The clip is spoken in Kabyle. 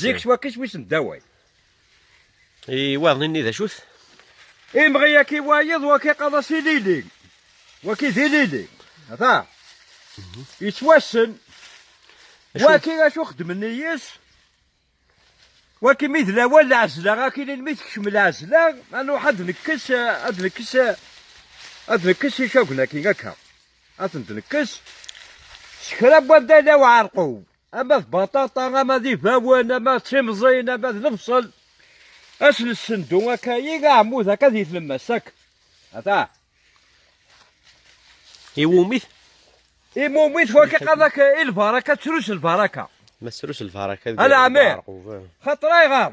zik ttwakk iswi-sen d awal. Iwaḍen-nni d acu-t? Imɣi aki wayeḍ waki qaḍa s ilili, waki d ilili, ata, mhm. yettwassen, waki acu xedmen yes waki mi d lawan lɛezla, aki mi tekcem lɛezla, ad nruḥ ad nekkes, ad nekkes, ad nekkes icagen akin akka, ad ten-nekkes, s kra n wanda law ɛerqu. ama d baṭaṭa ama d ibawen ama d timẓin ama d lebṣel ad nessendu akka i aɛmud akka di tlemmast akk ata iwumi-t iwumi-t wakka qadak i lbaraka ttrus lbaraka ma ttrus lbaraka ala ɛmir xaṭer ayɣer